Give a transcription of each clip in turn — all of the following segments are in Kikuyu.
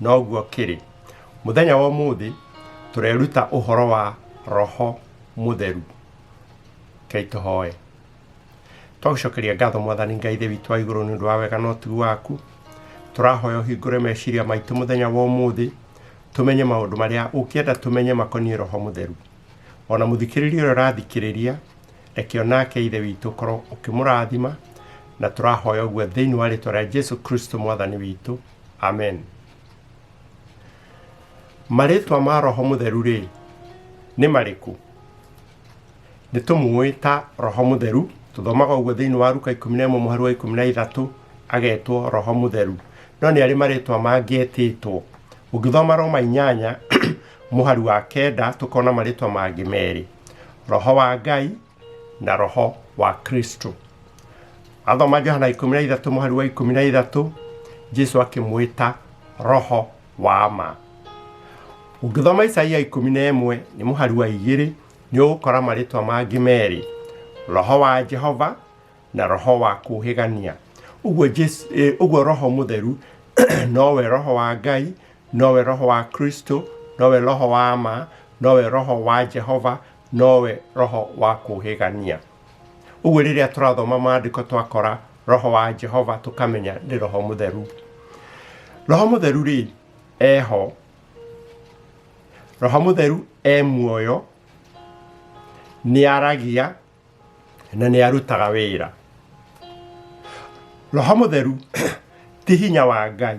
Noguo kĩrĩ. Mũthenya wa ũmũthĩ tũreruta ũhoro wa roho mũtheru. Kei tũhoe. Twagũcokeria ngatho mwathani Ngai thĩ witũ wa igũrũ nĩ ũndũ wa wega na ũtugi waku. Tũrahoya ũhingũre meciria maitũ mũthenya wa ũmũthĩ tũmenye maũndũ marĩa ũngĩenda tũmenye makoniĩ roho mũtheru. Ona mũthikĩrĩria ũrĩa ũrathikĩrĩria reke onake ithe witũ ũkorwo ũkĩmũrathima na tũrahoya ũguo thĩinĩ wa rĩtwa rĩa Jesu Kristo mwathani witũ. amen marĩtwa ma roho mũtheru rĩ nĩ marĩkũ nĩ tũmũĩ ta roho mũtheru tũthomaga ũguo thĩinĩ wa ruka ikũmi na ĩmwe mũhari wa ikũmi na ithatũ agetwo roho mũtheru no nĩ arĩ marĩtwa mangĩetĩtwo ũngĩthoma roma inyanya mũhari wa kenda tũkona marĩtwa mangĩ merĩ roho wa ngai na roho wa kristo athoma johana ikũmi na ithatũ mũhari wa ikũmi na ithatũ jesu akĩmwĩta roho wa ma ũngĩthoma isaia ikũmi na ĩmwe nĩ mũhari wa igĩrĩ nĩ ũgũkora marĩtwa mangĩ merĩ roho wa jehova na roho wa kũhĩgania ũguo Jesu- eh, ũguo roho mũtheru nowe roho wa ngai nowe roho wa kristo nowe roho wa ma nowe roho wa jehova nowe roho wa kũũhĩgania. Ũguo rĩrĩa tũrathoma maandĩko twakora roho wa Jehova tũkamenya nĩ roho mũtheru. Roho mũtheru rĩ, eho. Roho mũtheru e muoyo, nĩ aragia na nĩ arutaga wĩra. Roho mũtheru ti hinya wa Ngai.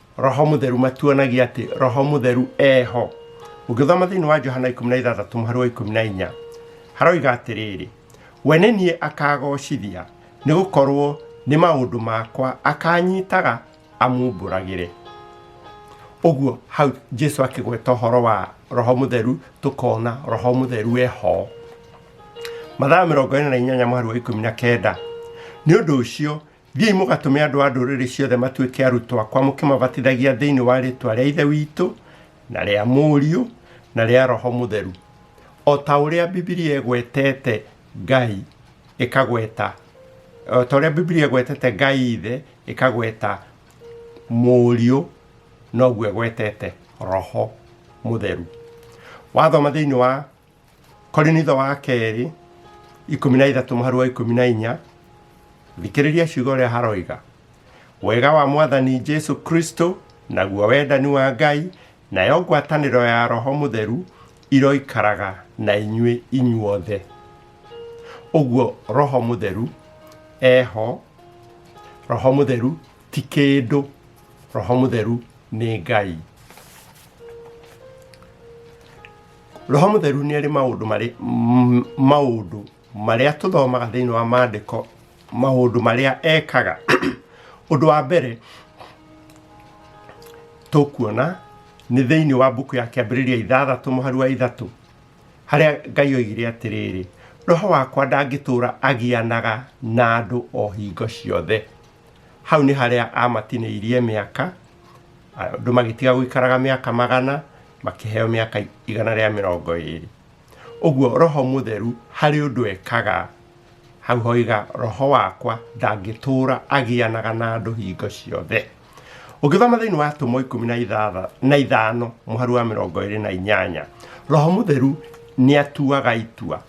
roho mutheru matuonagia ati roho mutheru eho ũngĩthoma thĩinĩ wa johana 16 mũhari wa 14 haroiga atĩrĩrĩ we nĩ niĩ akagocithia nĩ gũkorwo nĩ maũndũ makwa akanyitaga amumbũragĩre ũguo hau jesu akĩgweta ũhoro wa roho mutheru tũkona roho mutheru eho mathaa mĩrongo ĩna na inyanya mweri wa ikũmi na kenda nĩ ũndũ ũcio Thiĩi mũgatũme andũ a ndũrĩrĩ ciothe matuĩke arutwo akwa mũkĩmabatithagia thĩinĩ wa rĩĩtwa rĩa Ithe witũ na rĩa Mũriũ na rĩa Roho Mũtheru, o ta ũrĩa Bibilia ĩgwetete Ngai ĩkagweta o ta ũrĩa Bibilia ĩgwetete Ngai Ithe ĩkagweta Mũriũ noguo ĩgwetete Roho Mũtheru. Wathoma thĩinĩ wa korinitho wa kerĩ ikũmi na ithatũ mũharu wa ikũmi na inya thikĩrĩria ciugo ũrĩa haroiga wega wa mwathani jesu kristo naguo wendani wa ngai nayo ngwatanĩro ya roho mũtheru iroikaraga na inyuĩ inyuothe ũguo roho mũtheru eho roho mũtheru ti kĩndũ roho mũtheru nĩ ngai roho mũtheru nĩ arĩ maũndũ marĩ m- maũndũ marĩa tũthomaga thĩinĩ wa maandĩko maũndũ marĩa ekaga ũndũ wa mbere tũkuona nĩ thĩinĩ wa mbuku ya kĩambĩrĩria ithathatũ mũhari wa ithatũ harĩa ngai oigire atĩrĩrĩ roho wakwa ndangĩtũũra agianaga na andũ o hingo ciothe hau nĩ harĩa amatinĩirie mĩaka andũ magĩtiga gũikaraga mĩaka magana makĩheo mĩaka igana rĩa mĩrongo ĩrĩ ũguo roho mũtheru harĩ ũndũ ekaga hau hoiga roho wakwa ndangĩtũra agĩanaga na andũ hingo ciothe ũngĩthoma thĩinĩ wa atũmwo ikũmi na ithatha- na ithano mũhari wa mĩrongo ĩrĩ na inyanya roho mũtheru nĩ atuaga itua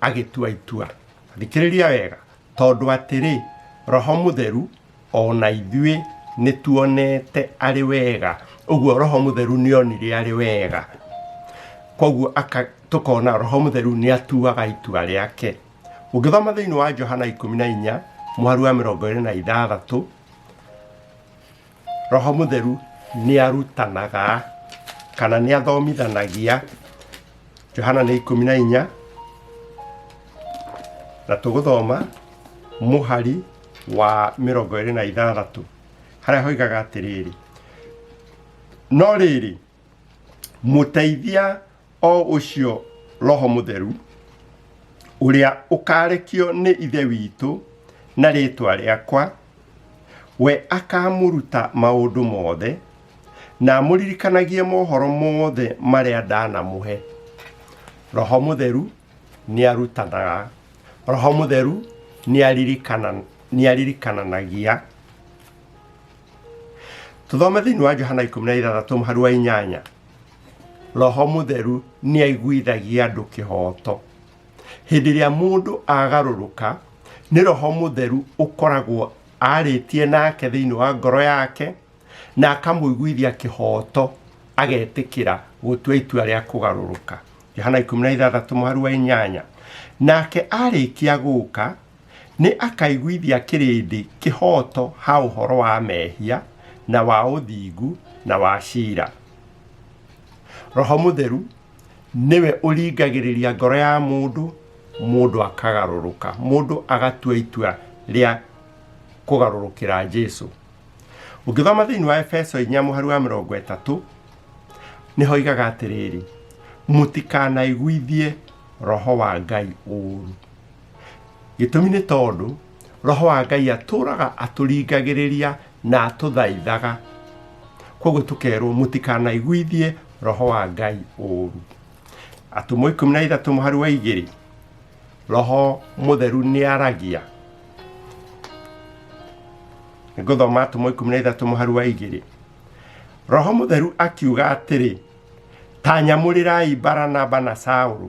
agĩtua itua. Thikĩrĩria wega, tondũ atĩrĩ, Roho Mũtheru o na ithuĩ nĩ tuonete arĩ wega. Ũguo Roho Mũtheru nĩ onire arĩ wega. Koguo tũkona Roho Mũtheru nĩ atuaga itua rĩake. Ũngĩthoma thĩinĩ wa Johana ikũmi na inya, mũhari wa mĩrongo ĩrĩ na ithathatũ, Roho Mũtheru nĩ arutanaga kana nĩ athomithanagia Johana nĩ ikũmi na inya na tũgũthoma mũhari wa mĩrongo ĩrĩ na ithathatũ harĩa hoigaga atĩrĩrĩ no rĩrĩ mũteithia o ũcio roho mũtheru ũrĩa ũkarekio nĩ ithe witũ na rĩtwa rĩakwa we akamũruta maũndũ mothe na amũririkanagie mohoro mothe marĩa ndanamũhe roho mũtheru nĩ arutanaga roho mũtheru nĩ aririkana- nĩ aririkananagia tũthome thĩinĩ wa johana 16 mũhari wa inyanya roho må theru nä aiguithagia andå kä hoto hĩndĩ ĩrĩa mũndũ agarũrũka nĩ roho mũtheru ũkoragwo arĩtie nake thĩinĩ wa ngoro yake na akamũiguithia kĩhooto agetĩkĩra gũtua itua rĩa kũgarũrũka yohana 16 mũharu wa inyanya nake arĩkia gũka Nĩ akaiguithia kĩrĩndĩ kĩhooto ha ũhoro wa mehia, na wa ũthingu, na wa ciira. Roho Mũtheru nĩwe ũringagĩrĩria ngoro ya mũndũ, mũndũ akagarũrũka, mũndũ agatua itua rĩa kũgarũrũkĩra Jesu. Ũngĩthoma thĩinĩ wa Efeso 4 mũhari wa mĩrongo ĩtatũ, nĩho igaga atĩrĩrĩ, mũtikanaiguithie roho wa Ngai ũũru. gĩtũmi nĩ tondũ roho wa ngai atũraga atũringagĩrĩria na atũthaithaga koguo tũkerwo mũtikanaiguithie roho wa ngai ũũru atũmwo ikũmi na ithatũ mũhari wa igĩrĩ roho mũtheru nĩ aragia ngũthoma atũmwo ikũmi na ithatũ mũhari wa igĩrĩ roho mũtheru akiuga atĩrĩ ta nyamũrĩrai baranaba na saũlũ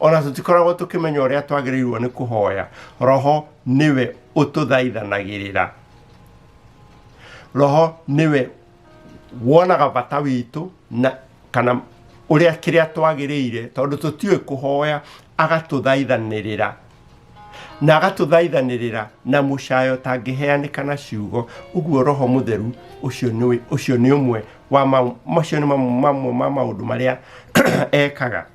ona tũtikoragwo tũkĩmenya ũrĩa twagĩrĩirwo nĩ kũhoya roho nĩwe ũtũthaithanagĩrĩra roho nĩwe wonaga bata witũ na kana ũrĩa kĩrĩa twagĩrĩire tondũ tũtiũĩ kũhoya agatũthaithanĩrĩra na agatũthaithanĩrĩra na mũcayo tangĩheanĩka na ciugo ũguo roho mũtheru ũcio nĩ ũcio nĩ ũmwe wa mau- macio nĩ mamwe mamwe ma maũndũ marĩa ekaga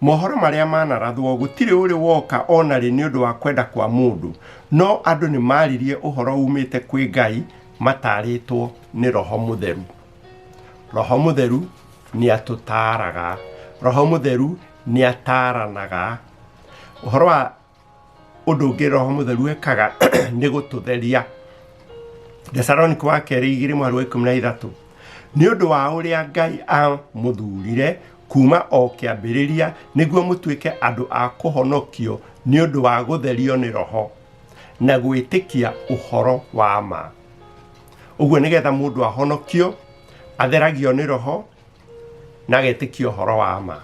Mohoro marĩa manarathwo gũtirĩ ũrĩ woka o na rĩ nĩ ũndũ wa kwenda kwa mũndũ, no andũ nĩ maaririe ũhoro uumĩte kwĩ Ngai mataarĩtwo nĩ Roho Mũtheru. Roho Mũtheru nĩ atũtaaraga. Roho Mũtheru nĩ ataaranaga. Ũhoro wa Ũndũ ũngĩ roho mũtheru ekaga nĩ gũtũtheria. Thesaloniko wa kerĩ igĩrĩ mweri wa ikũmi na ithatũ nĩ ũndũ wa ũrĩa ngai amũthurire kuma o kĩambĩrĩria nĩguo mũtuĩke andũ a kũhonokio nĩ ũndũ wa gũtherio nĩ roho na gwĩtĩkia ũhoro wa ma ũguo nĩgetha mũndũ ahonokio atheragio nĩ roho na agetĩkia ũhoro wa ma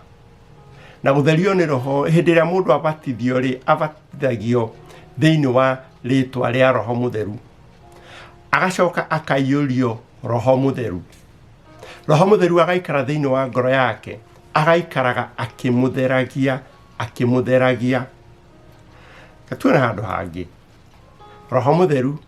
na gũtherio nĩ roho hĩndĩ ĩrĩa mũndũ abatithio rĩ abatithagio thĩinĩ wa rĩtwa rĩa roho mũtheru agacoka akaiyũrio roho mũtheru roho mũtheru agaikara thĩinĩ wa ngoro yake agaikaraga akĩmũtheragia akĩmũtheragia gatuona handũ hangĩ roho mũtheru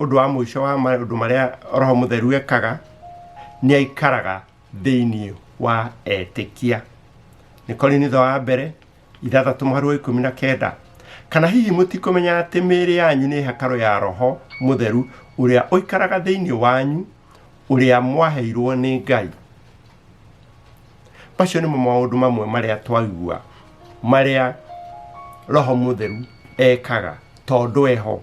Ũndũ wa mũico wa maũndũ marĩa Roho Mũtheru ekaga, nĩ aikaraga thĩinĩ wa etĩkia. Nĩ Korinitho wa mbere ithathatũ mũhari wa ikũmi na kenda. Kana hihi mũtikũmenya atĩ mĩĩrĩ yanyu nĩ hekarũ ya Roho Mũtheru ũrĩa ũikaraga thĩinĩ wanyu, ũrĩa mwaheirwo nĩ Ngai. Macio nĩmo maũndũ mamwe marĩa twaigua marĩa Roho Mũtheru ekaga tondũ eho.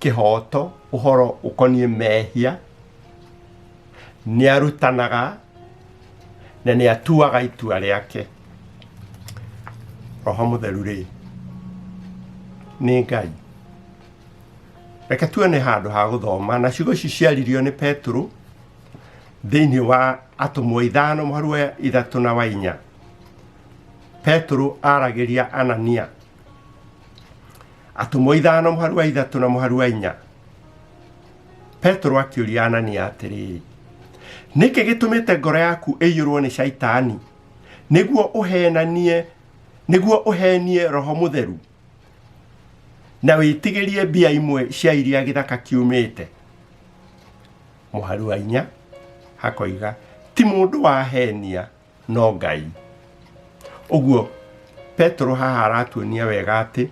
kĩhooto ũhoro ũkoniĩ mehia, nĩ arutanaga na nĩ atuaga itua rĩake. Roho mũtheru rĩ, nĩ Ngai. Reke tuone handũ ha gũthoma na ciugo ici ciaririo nĩ Petero thĩinĩ wa atũmwo ithano mũharu wa ithatũ na wa inya. Petero aragĩria Anania. atũmwo ithano mũharu wa ithatũ na mũharu wa inya petero akĩũria anania atĩrĩrĩ nĩkĩ gĩtũmĩte ngoro yaku ĩiyũrwo nĩ caitani nĩguo ũhenanie nĩguo ũhenie roho mũtheru na wĩtigĩrie mbia imwe cia iria gĩthaka kiumĩte mũharu wa inya hakoiga ti mũndũ wahenia no ngai ũguo petero haha aratuonia wega atĩ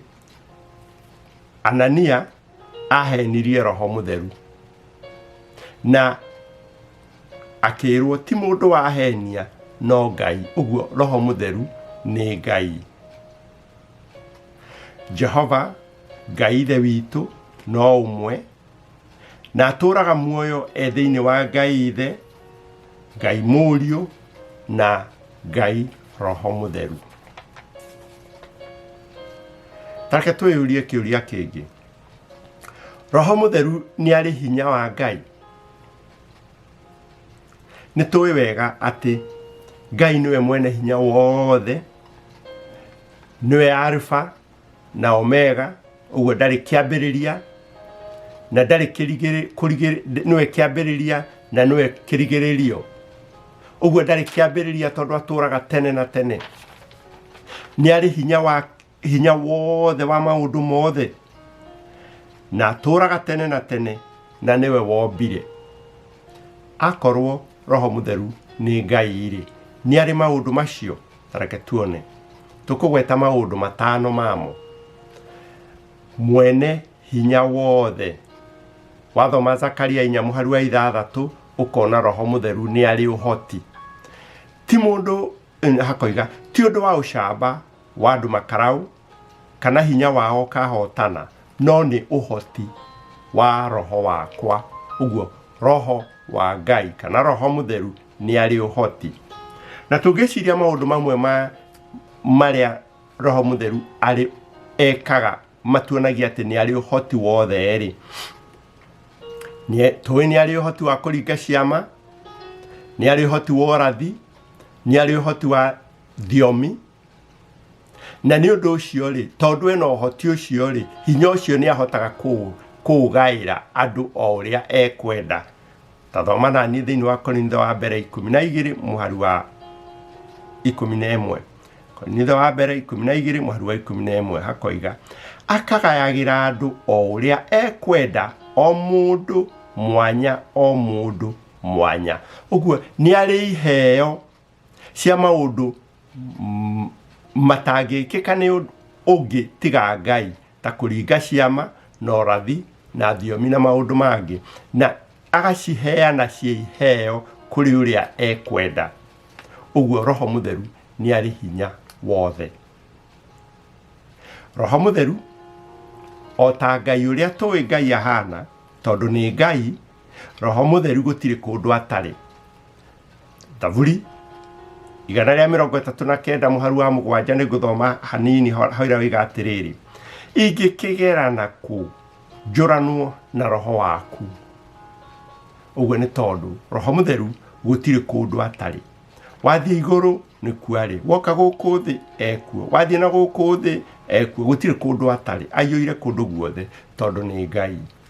anania ahenirie roho mũtheru na akĩrwo ti mũndũ wahenia no ngai ũguo roho mũtheru nĩ ngai jehova ngai ithe witũ no ũmwe na atũraga muoyo e thĩinĩ wa ngai ithe ngai mũriũ na ngai roho mũtheru tareke twĩyũrie kĩũria kĩngĩ roho mũtheru nĩ arĩ hinya wa ngai nĩ tũĩ wega atĩ ngai nĩwe mwene hinya wothe nĩwe alfa na omega ũguo ndarĩ kĩambĩrĩria na ndarĩ kĩrigĩrĩ- kũrigĩrĩ- nĩwe kĩambĩrĩria na nĩwe kĩrigĩrĩrio ũguo ndarĩ kĩambĩrĩria tondũ atũraga tene na tene nĩ arĩ hinya wa hinya wothe wa maũndũ mothe na atũraga tene na tene na nĩwe wombire akorwo roho mũtheru nĩ ngai-rĩ nĩ arĩ maũndũ macio Tareke tuone. Tũkũgweta maũndũ matano mamo. Mwene hinya wothe. Wathoma Zakaria inya mũhari wa ithathatũ ũkona roho mũtheru nĩ arĩ ũhoti. Ti mũndũ eh, hakoiga ti ũndũ wa ũcamba wa andũ makarau kana hinya wao kahotana no nĩ ũhoti wa roho wakwa ũguo roho wa ngai kana roho mũtheru nĩ arĩ ũhoti na tũngĩciria maũndũ mamwe ma marĩa roho mũtheru arĩ ekaga matuonagia atĩ nĩ arĩ ũhoti wothe rĩ tũĩ nĩ arĩ ũhoti wa kũringa ciama nĩ arĩ ũhoti wa ũrathi nĩ arĩ ũhoti wa thiomi na nĩ ũndũ ũcio rĩ tondũ ena ũhoti ũcio rĩ hinya ũcio nĩ ahotaga kũ- kũũgaĩra andũ o ũrĩa ekwenda ta thoma na niĩ thĩinĩ wa korintho wa mbere ikũmi na igĩrĩ mũhari wa ikũmi na ĩmwe korintho wa mbere ikũmi na igĩrĩ mũhari wa ikũmi na ĩmwe hakoiga akagayagĩra andũ o ũrĩa ekwenda o mũndũ mwanya o mũndũ mwanya ũguo nĩ arĩ iheo cia maũndũ mm, matangĩkĩka nĩ ũndũ ũngĩ tiga ngai ta kũringa ciama na ũrathi na thiomi na maũndũ mangĩ na agaciheana ciĩ iheo kũrĩ ũrĩa ekwenda ũguo roho mũtheru nĩ arĩ hinya wothe roho mũtheru o ta ngai ũrĩa tũĩ ngai ahana tondũ nĩ ngai roho mũtheru gũtirĩ kũndũ atarĩ Thaburi igana rĩa mĩrongo ĩtatũ na kenda mũharu wa mũgwanja nĩ ngũthoma hanini hoira wĩga atĩrĩrĩ ingĩkĩgerana kũ njũranwo na roho waku ũguo nĩ tondũ roho mũtheru gũtirĩ kũndũ atarĩ wathiĩ igũrũ nĩ kuarĩ woka gũkũ thĩ ekuo wathiĩ na gũkũ thĩ ekuo gũtirĩ kũndũ atarĩ aiyũire kũndũ guothe tondũ nĩ ngai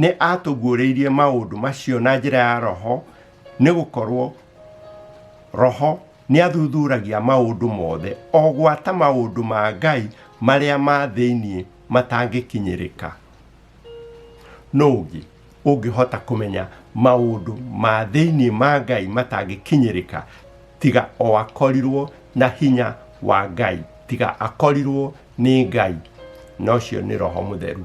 Nĩ aatũguũrĩirie maũndũ macio na njĩra ya Roho, nĩ gũkorũo Roho nĩ athuthuragia maũndũ mothe, o gwata maũndũ ma Ngai marĩa ma thĩinĩ matangĩkinyĩrĩka. Nũ ũngĩ ũngĩhota kũmenya maũndũ ma thĩinĩ ma Ngai matangĩkinyĩrĩka tiga o akorirwo na hinya wa Ngai, tiga akorirwo nĩ Ngai, na ũcio nĩ Roho Mũtheru.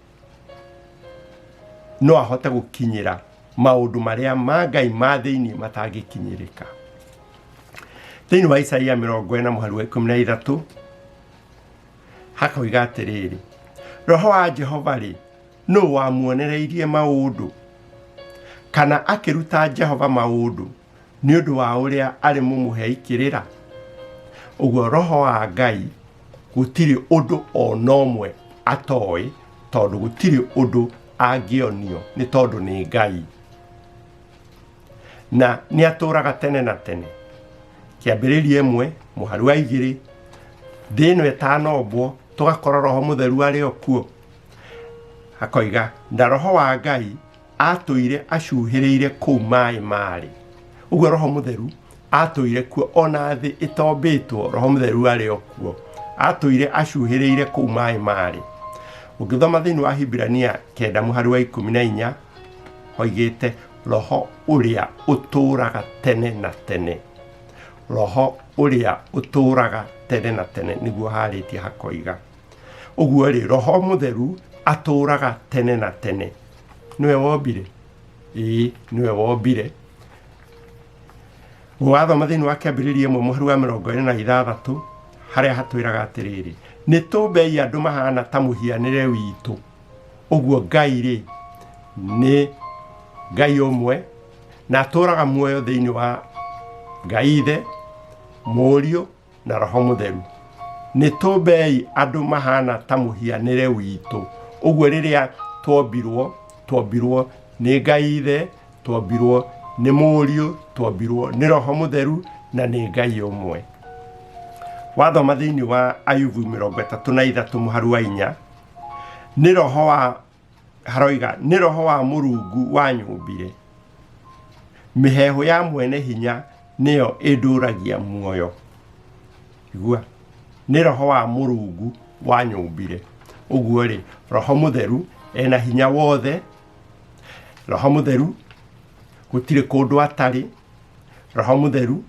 no ahote gũkinyĩra maũndũ marĩa ma ngai ma thĩinĩ matangĩkinyĩrĩka thĩinĩ wa isaia mĩrongo ĩna mũhari wa ikũmi na ithatũ hakoiga atĩrĩrĩ roho wa jehova rĩ nũ wamuonereirie maũndũ kana akĩruta jehova maũndũ nĩ ũndũ wa ũrĩa arĩ mũmũhei kĩrĩra ũguo roho wa ngai gũtirĩ ũndũ o na ũmwe atoĩ tondũ gũtirĩ ũndũ angĩonio nĩ tondũ nĩ ngai na nĩ atũraga tene na tene kĩambĩrĩria ĩmwe mũhari wa igĩrĩ thĩ ĩno ĩtanombwo tũgakora roho mũtheru arĩ o kuo akoiga na roho wa ngai atũire acuhĩrĩire kũu maĩ marĩ ũguo roho mũtheru atũire kuo ona thĩ ĩtombĩtwo roho mũtheru arĩ o kuo atũire acuhĩrĩire kũu maĩ marĩ ũngĩthoma thĩinĩ wa hibirania kenda mũhari wa ikũmi na inya oigĩte roho ũrĩa ũtũũraga tene na tene roho ũrĩa ũtũũraga tene na tene nĩguo harĩtie hakoiga ũguo rĩ roho mũtheru atũraga tene na tene nĩwe wombire ĩĩ nĩwe wombire wathoma thĩinĩ wa kĩambĩrĩria ĩmwe mũhari wa mĩrongo ĩrĩ na ithathatũ harĩa hatwĩraga atĩrĩrĩ nĩ tũmbei andũ mahana ta mũhianĩre witũ ũguo ngai rĩ nĩ ngai ũmwe na atũraga muoyo thĩinĩ wa ngai ithe mũriũ na roho mũtheru nĩ tũmbei andũ mahana ta mũhianĩre witũ ũguo rĩrĩa twombirwo twombirwo nĩ ngai ithe twombirwo nĩ mũriũ twombirwo nĩ roho mũtheru na nĩ ngai ũmwe wathoma thĩinĩ wa ayubu mĩrongo ĩtatũ na ithatũ mũharu wa inya nĩ roho wa haroiga nĩ roho wa mũrungu wa nyũmbire mĩhehu ya mwene hinya nĩyo ĩndũragia muoyo igua nĩ roho wa mũrungu wa nyũmbire ũguo rĩ roho mũtheru ena hinya wothe roho mũtheru gũtirĩ kũndũ atarĩ roho mũtheru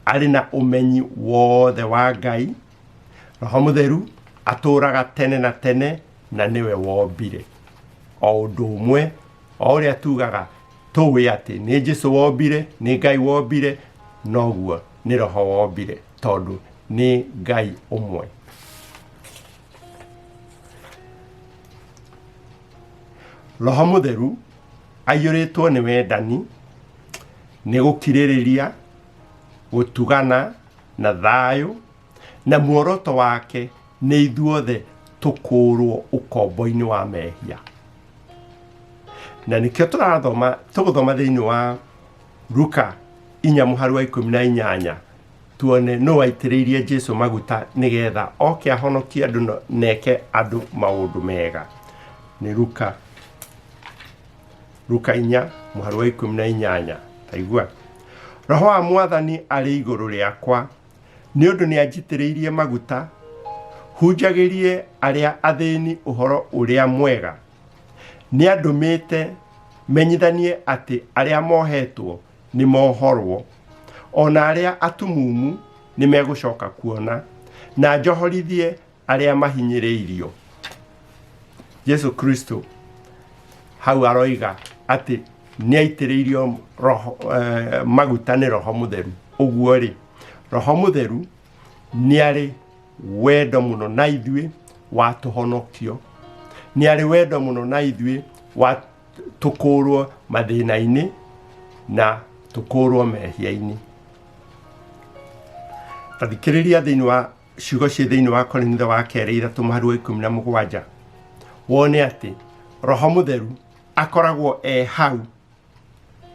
arĩ na ũmenyi wothe wa ngai roho mũtheru atũũraga tene na tene na nĩwe wombire o ũndũ ũmwe o ũrĩa tugaga tũĩ atĩ nĩ jesu wombire nĩ ngai wombire noguo nĩ roho wombire tondũ nĩ ngai ũmwe roho mũtheru aiyũrĩtwo nĩ wendani nĩ gũkirĩrĩria gũtugana na thayũ, na muoroto wake nĩ ithuothe tũkũũrwo ũkombo-inĩ wa mehia. Na nĩkĩo tũrathoma, tũgũthoma thĩinĩ wa Luka inya mũhari wa ikũmi na inyanya tuone nũ waitĩrĩirie Jesu maguta nĩgetha oke ahonokie andũ na- na eke andũ maũndũ mega. Nĩ Luka Luka inya mũhari wa ikũmi na inyanya taigua roho wa mwathani arĩ igũrũ rĩakwa nĩ ũndũ nĩ anjitĩrĩirie maguta hunjagĩrie arĩa athĩni ũhoro ũrĩa mwega nĩ andũmĩte menyithanie atĩ arĩa mohetwo nĩ mohorwo o na arĩa atumumu nĩ megũcoka kuona na njohorithie arĩa mahinyĩrĩirio jesu kristo hau aroiga atĩ nĩaitĩrĩirio roho eh, maguta nĩ roho mũtheru ũguo rĩ roho mũtheru nĩarĩ wendo mũno na ithuĩ wa tũhonokio nĩarĩ wendo mũno na ithuĩ wa tũkũũrwo mathĩna-inĩ na tũkũũrwo mehia-inĩ tathikĩrĩria thĩinĩ wa ciugo ciĩ thĩinĩ wa korinitho wa kerĩ ithatũ mũhari wa ikũmi na mũgwanja wone atĩ roho mũtheru akoragwo e hau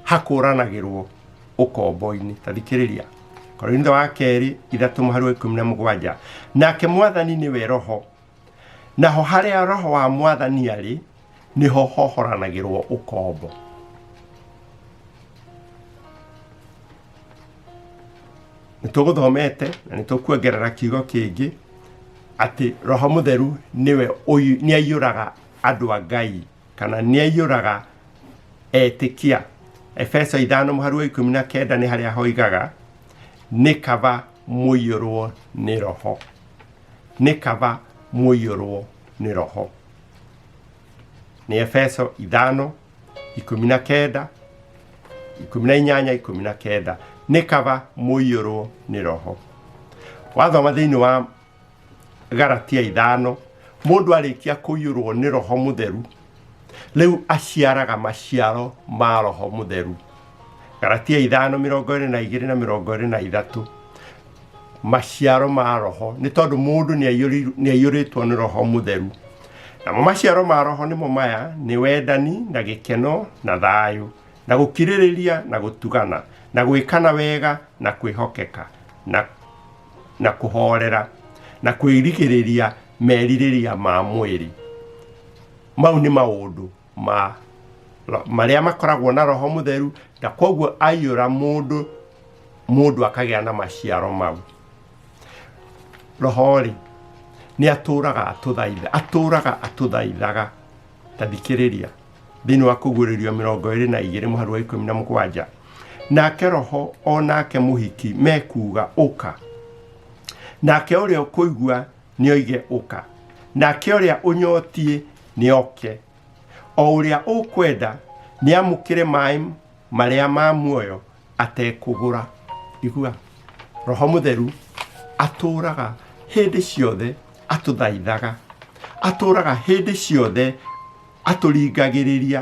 hakũranagĩrwo ũkombo-inĩ tathikĩrĩria korinitho wa kerĩ ithatũ mũhari wa ikũmi na mũgwanja nake mwathani nĩwe roho naho harĩa roho wa mwathani arĩ nĩho hohoranagĩrwo ũkombo nĩtũgũthomete na nĩtũkuongerera kiugo kĩngĩ atĩ roho mũtheru nĩwe ũyu- nĩaiyũraga andũ a ngai kana nĩaiyũraga etĩkia efeso ithano mũharu wa ikũmi na kenda nĩ harĩa hoigaga nĩ kaba mũiyũrwo nĩ roho nĩ kaba mũiyũrwo nĩ roho nĩ efeso ithano ikũmi na kenda ikũmi na inyanya ikũmi na kenda nĩ kaba mũiyũrwo nĩ roho wathoma thĩinĩ wa garatia ithano mũndũ arĩkia kũiyũrwo nĩ roho mũtheru rĩu aciaraga maciaro ma roho mũtheru galatia ithano mĩrongo ĩrĩ na igĩrĩ na mĩrongo ĩrĩ na ithatũ maciaro ma roho nĩ tondũ mũndũ nĩ aiyũri- nĩ aiyũrĩtwo nĩ roho mũtheru namo maciaro ma roho nĩmo maya nĩ wendani na gĩkeno na thayũ na gũkirĩrĩria na gũtugana na gwĩkana wega na kwĩhokeka na na kũhorera na kwĩrigĩrĩria merirĩria ma mwĩrĩ mau nĩ maũndũ ma ro- marĩa makoragwo na roho mũtheru na kwoguo aiyũra mũndũ mũndũ akagĩa na maciaro mau roho-rĩ nĩ atũraga atũthaitha atũraga atũthaithaga ta thikĩrĩria thĩinĩ wa kũguũrĩrio mĩrongo ĩrĩ na igĩrĩ mũharu wa ikũmi na mũgwanja nake roho o nake mũhiki mekuga ũka nake ũrĩa ũkũigua nĩ oige ũka nake ũrĩa ũnyotiĩ nĩ oke o ũrĩa ũkwenda nĩ amũkĩre maĩ marĩa ma muoyo atekũgũra igua roho mũtheru atũraga hĩndĩ ciothe atũthaithaga atũraga hĩndĩ ciothe atũringagĩrĩria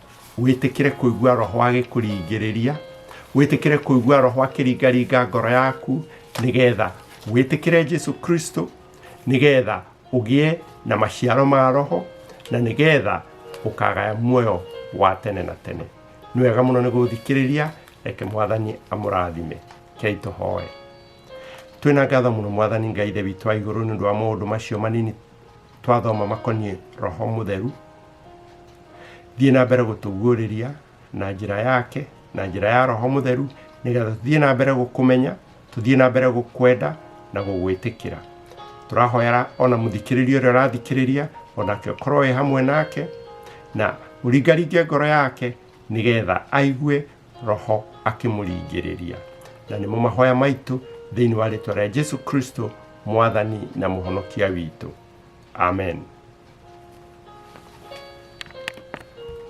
wĩtĩkĩre kũigua roho agĩkũringĩrĩria wĩtĩkĩre kũigua roho akĩringaringa ngoro yaku nĩgetha wĩtĩkĩre jesu kristo nĩgetha ũgĩe na maciaro ma roho na nĩgetha ũkagaya muoyo wa tene na tene nĩ wega mũno nĩ gũthikĩrĩria reke mwathani amũrathime kei tũhoe twĩna ngatho mũno mwathani ngai ithe witũ wa igũrũ nĩ ũndũ wa maũndũ macio manini twathoma makoniĩ roho mũtheru thiĩ na mbere gũtũguũrĩria na njĩra yake na njĩra ya roho mũtheru nĩgetha tũthiĩ na mbere gũkũmenya tũthiĩ na mbere gũkwenda na gũgwĩtĩkĩra tũrahoyera ona mũthikĩrĩria ũrĩa ũrathikĩrĩria onake ũkorwo wĩ hamwe nake na ũringaringe ngoro yake nĩgetha aigue Roho akĩmũringĩrĩria. Na nĩmo mahoya maitũ thĩinĩ wa rĩtwa rĩa Jesu Kristo, mwathani na mũhonokia witũ. Amen.